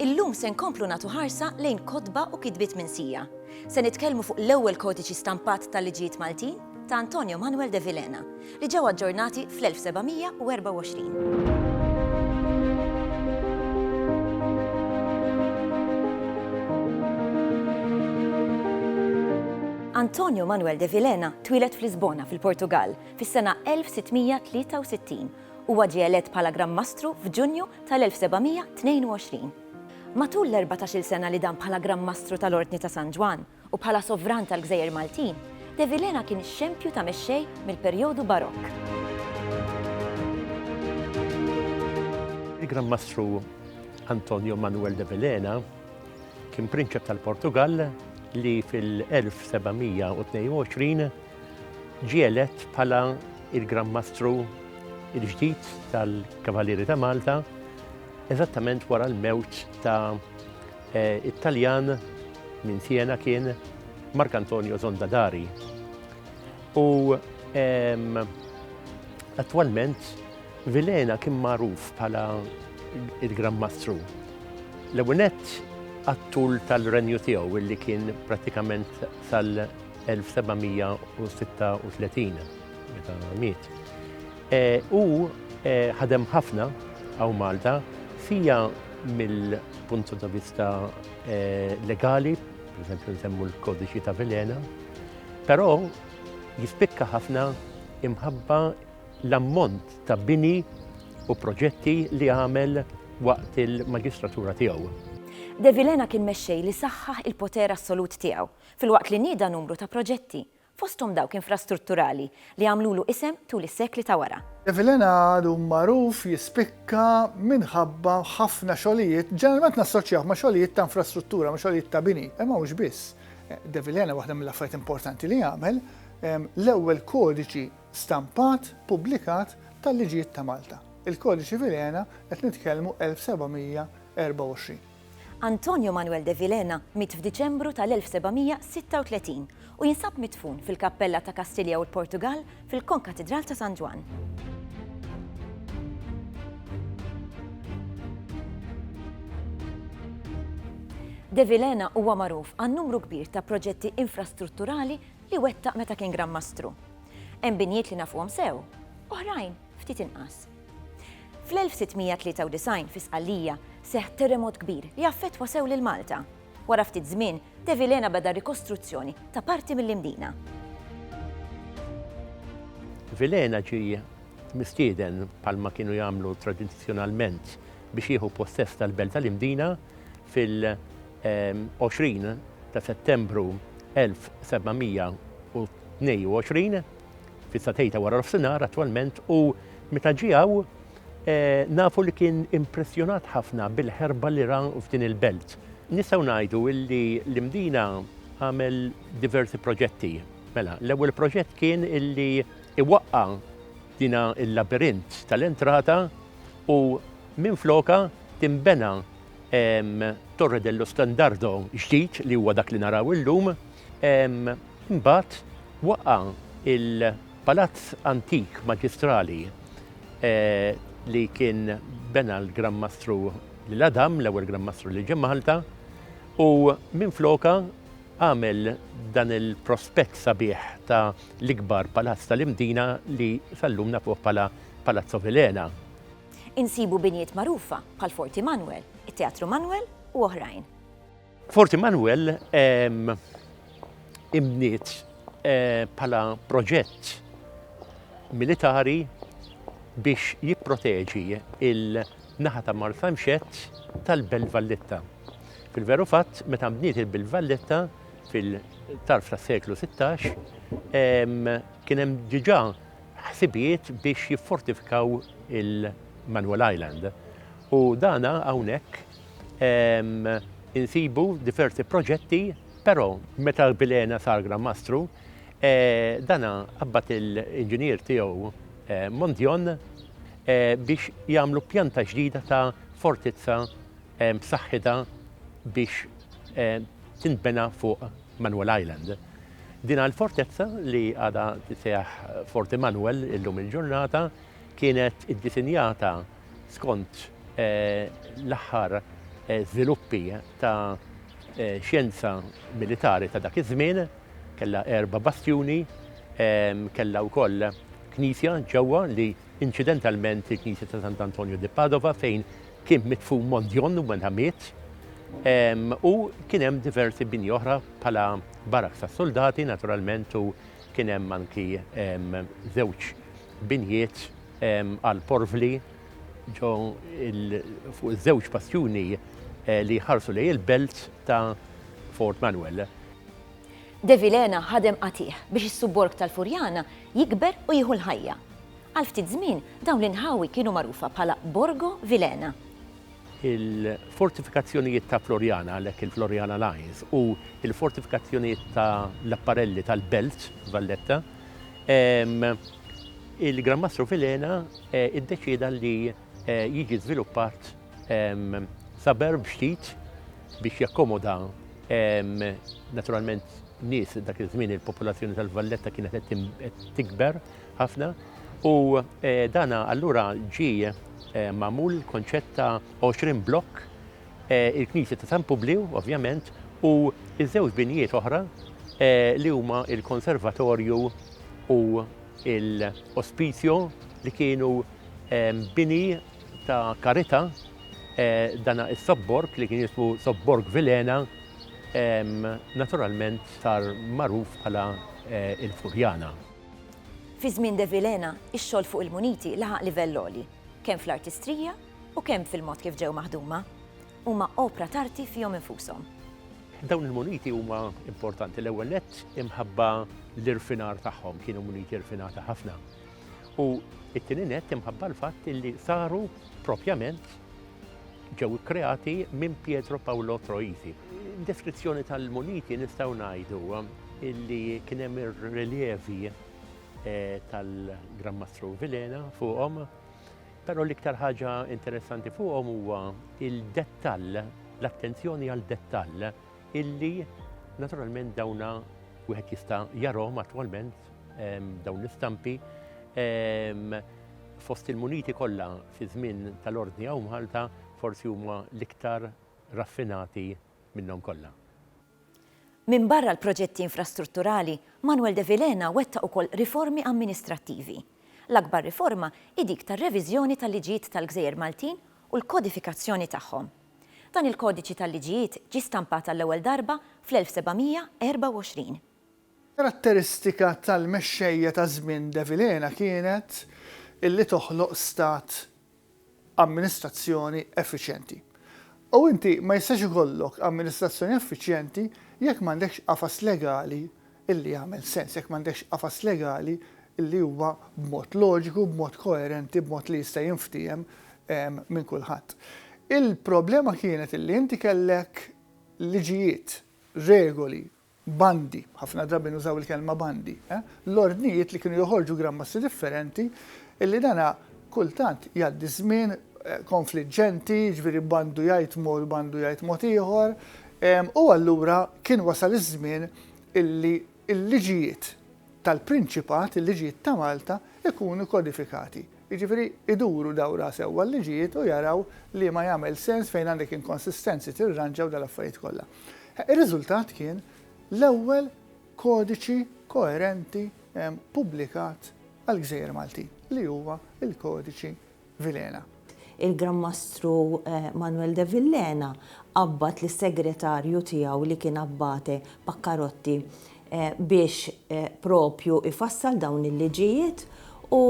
Illum se nkomplu natu ħarsa lejn kotba u kitbiet minsija. Se nitkellmu fuq l-ewwel kodiċi stampat tal-liġijiet Maltin ta' Antonio Manuel de Vilena, li ġew aġġornati fl-1724. Antonio Manuel de Vilhena twieled f'Lisbona fil-Portugall fis-sena 1663. Huwa ġie elett bħala Gran Mastru f'Ġunju tal-1722. Matul l-erbatax-il sena li dam bħala Gran Mastru tal-Ordni ta' San Ġwann, U bħala sovran tal-gżejjer Maltin, De Vilhena kien ix-xempju ta' mexxej mill-perjodu Barokk. Il-Gran Mastru Antonio Manuel de Vilhena kien prinċep tal-Portugall li fil-1722 ġie elett bħala il-Gran Mastru il-ġdid tal-Kavalieri ta' Malta eżattament wara l-mewt ta' It-Taljan minn Siena kien Markantonio Zondadari. U attwalment Vilena kien magħruf bħala il-Gran Mastru. L-ewnet għattul tal-renju tiegħu illi kien pratikament sal-1736 meta miet. Hu ħadem ħafna hawn Malta, fija mill-punt ta' vista legali, per eżempju nsemmu l-Kodiċi ta' Vilhena, però jispikka ħafna imħabba l-ammont ta' bini u proġetti li għamel waqt il-maġistratura tiegħu. De Vilhena kien mexxej li saħħaħ il-poter assolut tiegħu, filwaqt li nieda numru ta' proġetti, fosthom dawk infrastrutturali li għamlulu isem tul is-sekli ta' wara. Evelena għadu magħruf jispikka minħabba ħafna xogħlijiet, ġeneralment nassoċjawh ma' xogħlijiet ta' infrastruttura, ma' xogħlijiet ta' bini, imma mhux biss. D'Evelena waħda mill-affarijiet importanti li għamel, l-ewwel kodiċi stampat pubblikat tal-liġijiet ta' Malta. Il-Kodiċi Vilhena qed nitkellmu 1724. Antonio Manuel de Vilhena miet f'Diċembru tal-1736 u jinsab midfun fil-kappella ta' Kastilja u l-Portugall fil-Konkatidral ta' San Ġwann. De Vilhena huwa magħruf għan-numru kbir ta' proġetti infrastrutturali li wettaq meta kien Gran Mastru. Hemm binjiet li nafuhom sew, oħrajn ftit inqas. Fl-1693 fi Sqallija seħħ terremot kbir li affettwa sew lil Malta. Wara ftit żmien, De Vilhena beda r-rikostruzzjoni ta' parti mill-Imdina. Vilhena ġie mistieden, bħalma kienu jagħmlu tradizzjonalment, biex jieħu possess tal-Belt tal-Imdina fil-20 ta' Settembru 1722. Fis-satejta wara l-ofsinar attwalment u meta ġie hawn nafu li kien impressjonat ħafna bil-ħerba li ra f'din il-belt. Nistgħu ngħidu illi l-Imdina għamel diversi proġetti. Mela, l-ewwel proġett kien illi iwaqqa' dina il-labirint tal-entrata u minflokha tinbena Torre dello Standardo ġdid li huwa dak li naraw illum. Imbagħad waqqa' il-palazz antik maġistrali li kien bena l-Gran Mastru lil Adam, l-ewwel Gran Mastru li ġie Malta, u minflokha għamel dan il-prospett sabiħ ta' l-ikbar palazz tal-Imdina li sal-lum nafuh bħala Palazzo Vilhena. Insibu binjiet magħrufa bħal Forti Manwel, it-Teatru Manwel u oħrajn. Fort Immanuel imbniet eh, bħala proġett militari biex jipproteġi il-naħa ta' Martha Mxett tal-Belt Valletta. Fil-veru fatt, meta mbniet il-Belt Valletta fil-tarf tas seklu 16, kien hemm diġà ħsibijiet biex jiffortifikaw il-Manuel Island. U dana hawnhekk insibu diversi proġetti, però meta l-Bilena sar Gran Mastru, eh, dana qabbat il-inġinier tiegħu eh, Mondjon eh, biex jagħmlu pjanta ġdida ta' fortizza b'saħħitha biex tintbena fuq Manuel Island. Dina l-fortezza li għada tiseħ Forti Manuel illum il-ġurnata kienet id-disinjata Skont l-aħħar żviluppi ta' xjenza militari ta' dak iż-żmien, kellha erba' bastjuni, kellha wkoll knisja ġewwa li inċidentalment il-knisja ta' Sant'Antonio di Padova fejn kien midfun Mondjon meta miet, u kien hemm diversi bini oħra bħala baraks tas-suldati naturalment u kien hemm anki żewġ Binjiet għall-porvli ġo fuq iż-żewġ bastjuni li jħarsu lejn il-belt ta' Fort Manuel. De Vilhena ħadem qatigħ biex is-subborg tal-Furjana jikber u jieħu l-ħajja. Għal ftit żmien dawn l-inħawi kienu magħrufa bħala Borgo Vilhena. Il-fortifikazzjonijiet ta' Floriana, għalhekk il-Floriana Lines, u l-fortifikazzjonijiet ta' l-Apparelli tal-Belt, Valletta, il-Gran Mastru Filena iddeċieda li jiġi żviluppat suburb ġdid biex jakkomoda naturalment nies dak iż-żmien il-popolazzjoni tal-Valletta kienet qed tikber, ħafna u dan allura ġie magħmul il-konċett ta' 20 blokk il-Knisja ta' San Publiw ovvjament u ż-żewġ binijiet oħra li huma il-konservatorju u l-ospizio li kienu bini ta' karità dana is-sobborg li kien jismu Sobborg Vilena naturalment sar magħruf bħala il-Furjana. Fi żmien De Vilhena, ix-xogħol fuq il-muniti laħaq livell għoli, kemm fl-artistrija u kemm fil-mod kif ġew maħduma. Huma opra t'arti fihom infushom. Dawn il-muniti huma importanti l-ewwel nett imħabba l-irfinar tagħhom, kienu muniti rfinati ħafna, u t-tieni nett imħabba l-fatt li saru propjament, ġew ikkreati minn Pietro Paolo Troisi. Deskrizzjoni tal-muniti nistgħu ngħidu illi kien hemm ir-reljevi eh, tal-Gran Mastru Vilena fuqhom, però l-iktar ħaġa interessanti fuqhom huwa il-dettall, l-attenzjoni għal dettall illi naturalment dawna wieħed jista' jarhom attwalment ehm, dawn l-istampi ehm, Fost il-muniti kollha fiż-żmien tal-Ordni hawn Malta forsi huma l-iktar raffinati minnhom kollha. Minbarra l-proġetti infrastrutturali, Manuel de Vilhena wettaq ukoll riformi amministrattivi. L-akbar riforma hi dik tar-reviżjoni tal-liġijiet tal-gżejjer Maltin u l-kodifikazzjoni tagħhom. Dan il-kodiċi tal-liġijiet ġie stampat għall-ewwel darba fl-1724. Karatteristika tal-mexxejja ta' żmien De Vilhena kienet illi toħloq stat amministrazzjoni effiċjenti. U inti ma jistax ikollok amministrazzjoni effiċjenti jekk m'għandekx qafas legali illi jagħmel sens, jekk m'għandekx qafas legali illi huwa b'mod loġiku, b'mod koerenti, b'mod li jista' jinftiehem minn kulħadd. Il-problema kienet illi inti kellek liġijiet, regoli, bandi, ħafna drabi nużaw il-kelma bandi, l-ordnijiet li kienu joħorġu grammassi differenti, illi dan kultant jgħaddi żmien konfliġġenti, jiġifieri bandu jgħid mod bandu jgħid mod ieħor, u allura kien wasal iż-żmien illi l-liġijiet tal-Prinċipat, il-liġijiet ta' Malta, ikunu kodifikati. Jiġifieri jduru dawra sewwa l-liġijiet u jaraw liema jagħmel sens fejn għandek inkonsistenzi tirranġa u dal-affarijiet kollha. Ir-riżultat kien l-ewwel kodiċi koerenti pubblikat għall-gżejjer Maltin li huwa l-Kodiċi Vilhena. Il-Gran Mastru Manuel de Villena qabbad lis-segretarju tiegħu li kien Abbate Paccarotti biex propju jfassal dawn il-liġijiet u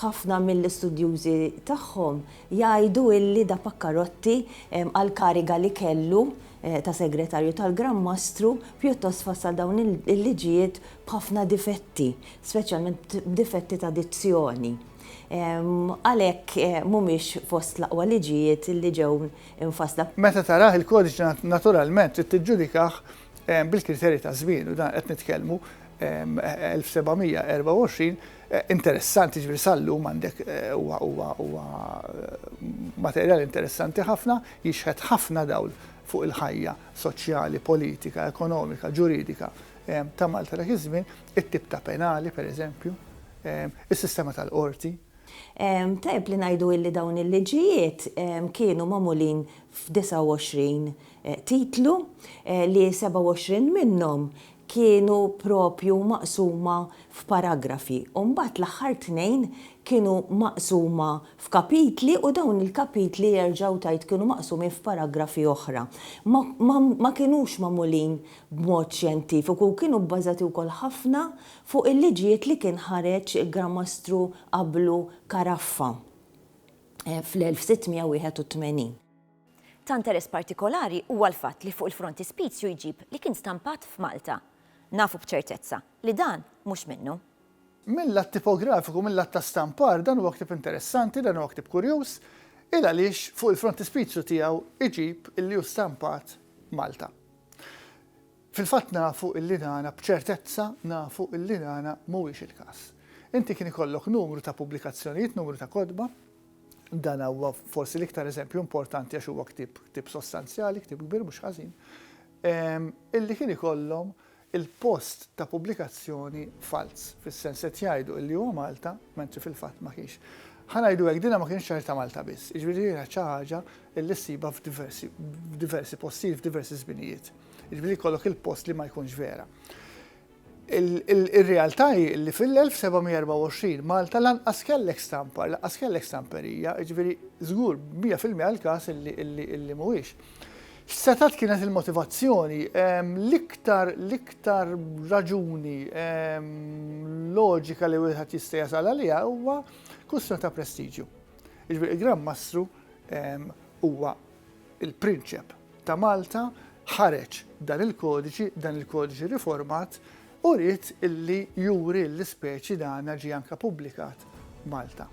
ħafna mill-istudjużi tagħhom jgħidu illi da Paccarotti għall-kariga li kellu ta' Segretarju tal-Gran Mastru pjuttost fassal dawn il-liġijiet b'ħafna difetti, speċjalment b'difetti ta' dizzjoni. Għalhekk mhumiex fost l-aqwa liġijiet li ġew imfassla. Meta tarah il-kodiċi naturalment trid tiġġudikah bil-kriterji ta' żmien, u dan qed nitkellmu 1724, interessanti, jiġifieri sal-lum għandek huwa huwa huwa materjal interessanti ħafna, jixħet ħafna dawl fuq il-ħajja soċjali, politika, ekonomika, ġuridika ta' Malta dak iż-żmien, it-tip ta' penali pereżempju, is-sistema tal-qorti. Tajjeb li ngħidu illi dawn il-liġijiet kienu magħmulin f'29 titlu, li 27 minnhom kienu proprju maqsuma f'paragrafi u mbagħad l-aħħar tnejn kienu maqsuma f'kapitli u dawn il-kapitli jerġgħu tgħid kienu maqsumin f'paragrafi oħra. Ma ma kinux magħmulin b'mod xjentifiku u kienu bbażati wkoll ħafna fuq il-liġijiet li kien ħareġ il-Gran Mastru qablu Caraffa fl-1681. Ta' interess partikolari huwa l-fatt li fuq il-frontispizju jġib li kien stampat f'Malta. Nafu b'ċertezza li dan mhux minnu. Mil-lat tipografiku, mil-lat ta' stampar, dan huwa ktieb interessanti, dan huwa ktieb kurjuż, il għaliex fuq il-frontispizju tiegħu jġib illi hu stampat Malta. Fil-fatt nafu illi dan, b'ċertezza nafu illi dan mhuwiex il-każ. Inti kien ikollok numru ta' pubblikazzjonijiet, numru ta' kotba, Dan huwa forsi l-iktar eżempju importanti għax huwa ktieb, ktieb sostanzjali, ktieb kbir mhux ħażin, illi kien ikollhom il-post ta' pubblikazzjoni falz, fis-sens qed jgħidu illi huwa Malta, mentri fil-fatt ma kienx. Ħa ngħidu hekk dinha ma kienx xahar ta' Malta biss, jiġifieri hija xi ħaġa illi ssibha f'diversi f'diversi postijiet, f'diversi żminijiet. Jiġifieri jkollok il-post li ma jkunx vera. Ir-realtà hi li fil-1724 Malta lanqas kellek stampa, lanqas kellek stamperija, jiġifieri żgur mija fil-mija l-każ li mhuwiex. X'setgħet kienet il-motivazzjoni? L-iktar l-iktar raġuni loġika li wieħed jista' jasal għaliha huwa kwistjoni ta' prestiġju. Jiġifieri l-Gran Mastru huwa Il-Prinċep ta' Malta ħareġ dan il-kodiċi, dan il-kodiċi riformat, u ried illi juri l-ispeċi dana ġie anka pubblikat Malta.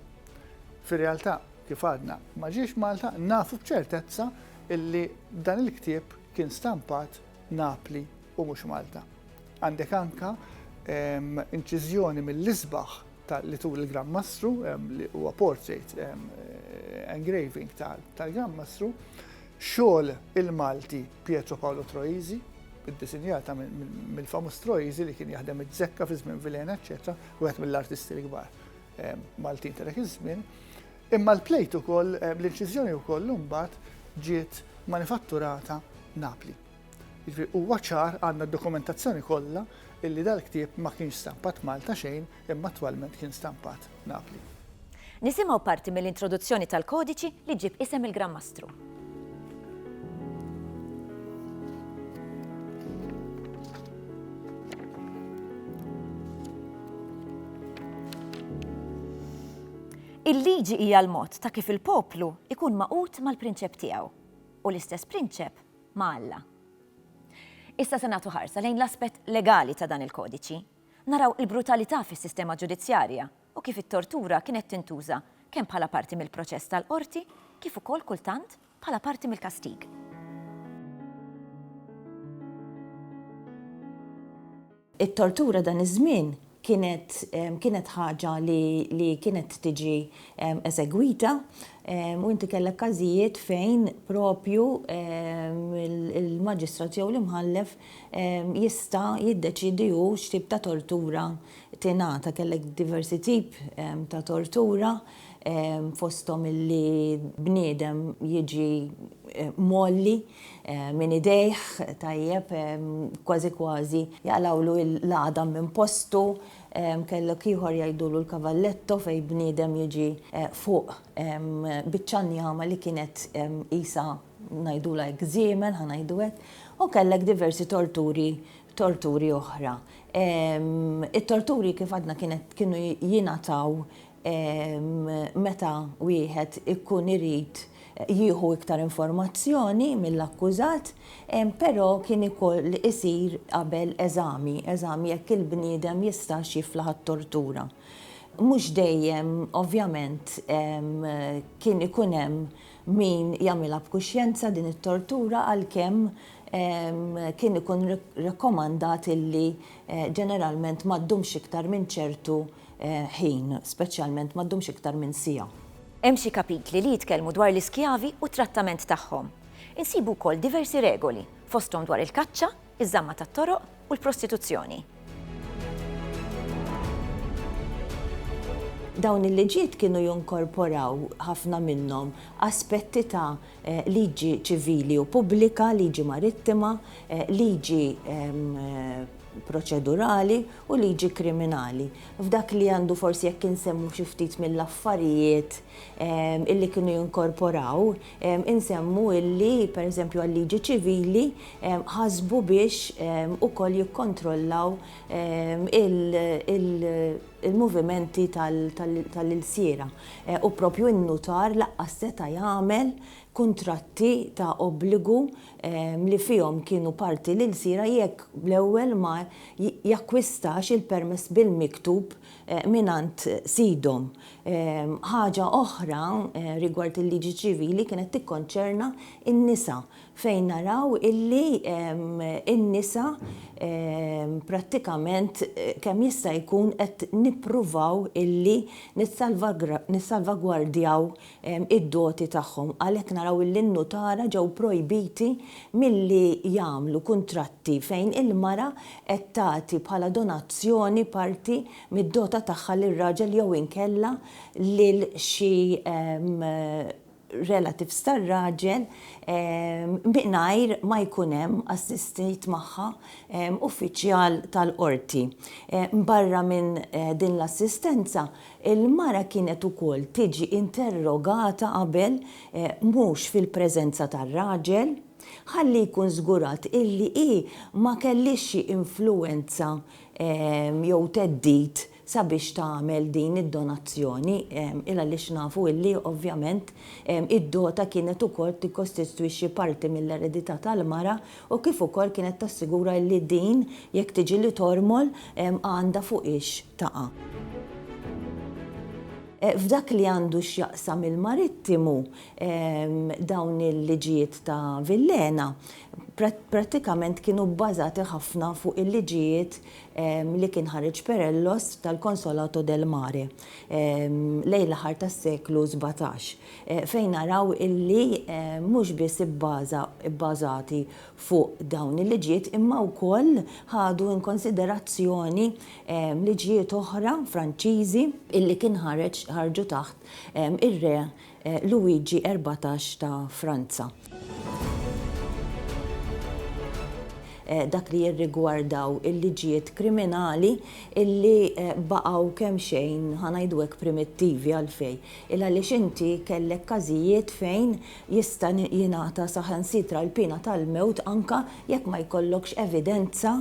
Fir-realtà, kif għadna, ma ġiex Malta, nafu b'ċertezza illi dan il-ktieb kien stampat Napli u mhux Malta. Għandek anka ehm, inċiżjoni mill-isbaħ ta' li turi l-Gran Mastru, li huwa portrait engraving tal-Gran Mastru, xogħol il-Malti Pietro Paolo Troisi, id-disinjata mill-famus Troisi li kien jaħdem iż-żekka fi żmien Vilena, eċetera, wieħed mill-artisti l-kbar Maltin ta' dak iż-żmien. Imma l-plejt ukoll, l-inċiżjoni wkoll imbagħad ġiet manifatturata Napli. Jiġifieri huwa ċar għandna d-dokumentazzjoni kollha illi dal-ktieb ma kienx stampat Malta xejn imma attwalment kien stampat Napli. Nisimgħu parti mill-introduzzjoni tal-kodiċi li ġġib isem il-Gran Mastru. Il-liġi hija l-mod ta' kif il-poplu ikun magħqud mal-prinċep tiegħu u l-istess prinċep ma' Alla. Issa se nagħtu ħarsa lejn l-aspett legali ta' dan il-kodiċi. Naraw il-brutalità fis-sistema ġudizzjarja u kif it-tortura kienet tintuża kemm bħala parti mill-proċess tal-qorti kif ukoll kultant bħala parti mill-kastig. It-tortura dan iż-żmien kienet kienet ħaġa li li kienet tiġi esegwita u inti kellek każijiet fejn propju l-maġistrat jew l-imħallef jista' jiddeċiedi hu x'tip ta' tortura tingħata. Kellek diversi tip ta' tortura fosthom illi bniedem jiġi mgħolli. Minn idejh, tajjeb, kważi kważi, jaqlgħulu l-għadam minn postu, kellok ieħor jgħidulu l-cavalletto fejn bniedem jiġi fuq biċċa njama li kienet qisha, ngħidulha hekk, żiemel, ħa ngħidu hekk, u kellek diversi torturi, torturi oħra. It-torturi kif għadna kienet, kienu jingħataw meta wieħed ikun irid jieħu iktar informazzjoni mill-akkużat, però kien ikoll isir qabel eżami, eżami jekk il-bniedem jistax jiflaħ għat-tortura. Mhux dejjem, ovvjament, kien ikun hemm min jagħmilha b'kuxjenza din it-tortura għalkemm kien ikun rakkomandat illi ġeneralment ma ddumx iktar minn ċertu ħin, speċjalment ma ddumx iktar minn siegħa. Hemm xi kapitli li jitkellmu dwar l-iskjavi u t-trattament tagħhom. Insibu wkoll diversi regoli, fosthom dwar il-kaċċa, iż-żamma tat-toroq u l-prostituzzjoni. Dawn il-liġijiet kienu jinkorporaw, ħafna minnhom, aspetti ta'. liġi ċivili u pubblika, liġi marittima, liġi proċedurali u liġi kriminali. F'dak li għandu forsi jekk insemmu xi ftit mill-affarijiet illi kienu jinkorporaw, insemmu illi pereżempju għal-liġi ċivili ħasbu biex ukoll jikkontrollaw il- il-movimenti tal-ilsiera u proprju n-nutar lanqas seta' jagħmel kuntratti ta' obbligu li fihom kienu parti l-ilsiera jekk l-ewwel ma jakkwistax il-permess bil-miktub mingħand sidhom. Ħaġa oħra rigward il-liġi ċivili kienet tikkonċerna n-nisa fejn naraw illi n-nisa prattikament kemm jista' jkun qed nippruvaw illi nissalvagwardjaw id-doti tagħhom. Għalhekk naraw illi n-nutara ġew projbiti milli jagħmlu kuntratti fejn il-mara qed tagħti bħala donazzjoni parti mid-dota tagħha lil raġel jew inkella lil xi relatives tar-raġel mingħajr ma jkun hemm assistit magħha uffiċjal tal-qorti. Barra minn din l-assistenza, il-mara kienet ukoll tiġi interrogata qabel, mhux fil-preżenza tar-raġel, ħalli jkun żgurat illi hi ma kellhiex xi influwenza jew theddid sabiex tagħmel din id-donazzjoni il għaliex nafu illi ovvjament id-dota kienet ukoll tikkostistwixxi parti mill-eredità tal-mara u kif ukoll kienet tassigura illi din jekk tiġi li tormol għandha fuqhiex taqa'. F'dak li għandu x'jaqsam il-marittimu dawn il-liġijiet ta' Villena prattikament kienu bbażati ħafna fuq il-liġijiet li kien ħareġ Perellos tal-Consolato del Mare lejn l-aħħar tas-seklu sbatax, fejn naraw illi mhux biss ibbaża, ibbażati fuq dawn il-liġijiet imma wkoll ħadu in konsiderazzjoni liġijiet oħra Franċiżi illi kien ħareġ, ħarġu taħt ir-re Luigi erbatax ta' Franza. Dak li jirrigwardaw il-liġijiet kriminali illi baqgħu kemxejn, ħa ngħidu hekk, primittivi. Għalfejn? Ilgħaliex inti kellek każijiet fejn jista' jingħata saħansitra l-piena tal-mewt anke jekk ma jkollokx evidenza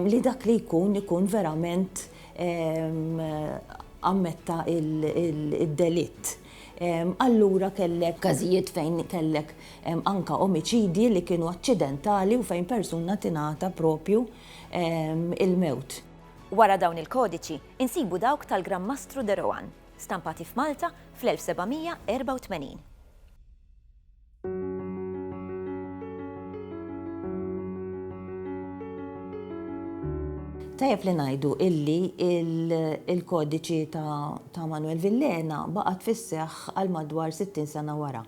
li dak li jkun ikun verament ammetta d-delitt. Allura kellek każijiet fejn kellek anke omiċidji li kienu aċċidentali u fejn persuna tingħata proprju l-mewt. Wara dawn il-kodiċi, insibu dawk tal-Gran Mastru de Rohan, stampati f'Malta fl-1784. Tajjeb li ngħidu illi il-kodiċi ta' Manwel Villena baqgħet fis-seħħ għal madwar 60 sena wara,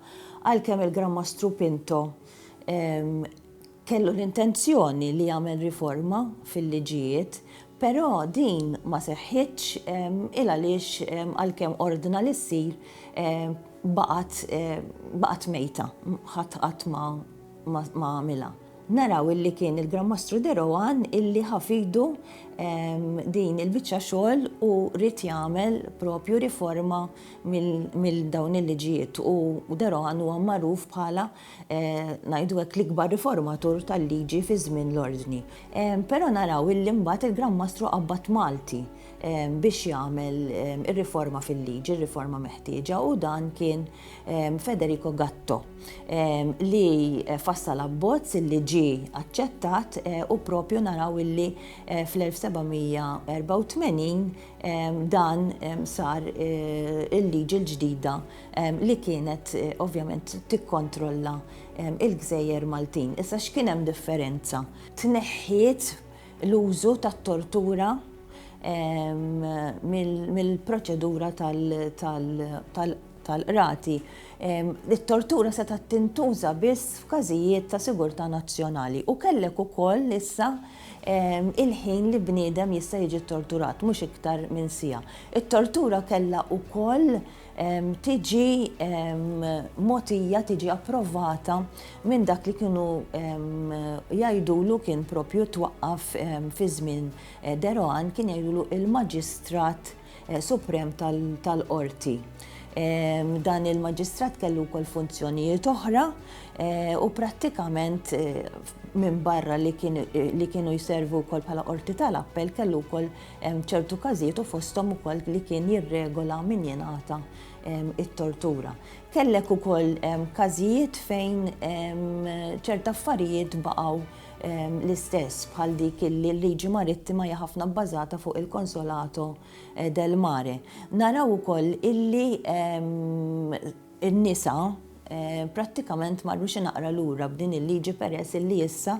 għalkemm il-Gran Mastru Pinto Kellu l-intenzjoni li jagħmel riforma fil-liġijiet, però din ma seħħitx il għaliex għalkemm ordna li ssir baqgħet baqgħet mejta, ħadd qatt ma ma għamilha. Naraw illi kien il-Gran Mastru De Rohan illi ħa f'idu din il-biċċa xogħol u ried jagħmel propju riforma mill dawn il-liġijiet u De Rohan huwa magħruf bħala ngħidu hekk, l-ikbar riformatur tal-liġi fi żmien l-Ordni. Però naraw illi mbagħad il-Gran Mastru qabbad Malti biex jagħmel ir-riforma fil-liġi, r-riforma meħtieġa, u dan kien Federico Gatto li fassal abbozz li ġie aċċettat u propju naraw illi fl-1784 dan sar il-liġi l-ġdida li kienet ovvjament tikkontrolla il-gżejjer Maltin. Issa x'kien hemm differenza? Tneħħiet l-użu tat-tortura mill-proċedura tal-qrati. It-tortura setgħa tintuża biss f'każijiet ta' sigurtà nazzjonali u kellek ukoll issa il-ħin li bniedem jista' jiġi ttorturat, mhux iktar minn siegħa. It-tortura kellha wkoll tiġi mogħtija, tiġi approvata minn dak li kienu jgħidulu kien propju twaqqaf fi żmien De Rohan kien jgħidulu il-Maġistrat Suprem tal-Qorti. Dan il-Maġistrat kellu wkoll funzjonijiet oħra u prattikament minbarra li kienu jservu wkoll bħala Qorti tal-Appell kellu wkoll Hemm ċertu każijiet u fosthom ukoll li kien jirregola min jingħata it-tortura. Kellek ukoll każijiet fejn ċert affarijiet baqgħu l-istess bħal dik li l-liġi marittima hija ħafna bbażata fuq il-consolato del mare. Naraw ukoll illi in-nisa prattikament marru xi naqra lura b'din il-liġi peress illi issa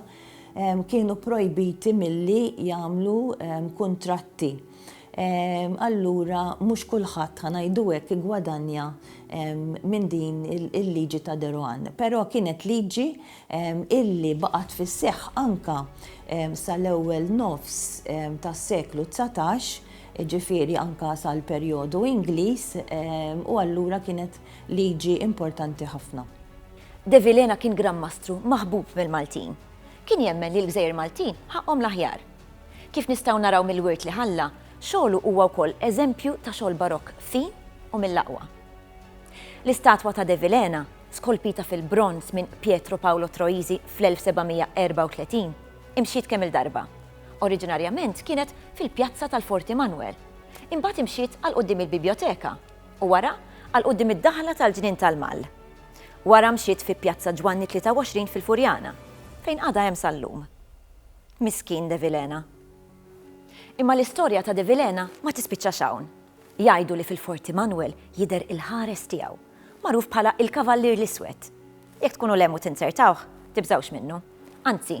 kienu pprojbiti milli jagħmlu kuntratti. Allura mhux kulħadd, ħa ngħidu hekk, iggwadanja minn din il-liġi ta' De Rohan. Però kienet liġi illi baqgħet fis-seħħ anke sal-ewwel nofs tas-seklu dsatax, jiġifieri anke sal-perjodu Ingliż, u allura kienet liġi importanti ħafna. De Vilhena kien Gran Mastru maħbub mill-Maltin. Kien jemmen li l-gżejjer Maltin ħaqqhom l-aħjar. Kif nistgħu naraw mill-wirt li ħalla, xogħlu huwa wkoll eżempju ta' xogħol Barokk fin u mill-aqwa. L-istatwa ta' De Vilhena, skolpita fil-bronż minn Pietro Paolo Troisi fl-1734, imxiet kemm-il darba. Oriġinarjament kienet fil-pjazza tal-Forti Manwel, imbagħad imxiet għal quddiem il-Bibjoteka u wara għal quddiem id-daħla tal-Ġnien tal-Mall. Wara mxiet fi Pjazza Ġwanni 23 fil-Furjana, fejn għadha hemm sal-lum. Miskin De Vilhena. Imma l-istorja ta' De Vilhena ma tispiċċax hawn. Jgħidu li fil-Forti Manwel jidher il-ħares tiegħu, magħruf bħala il-Kavallier l-Iswed. Jekk tkunu lemmu tinzertawh, tibżgħux minnu. Anzi,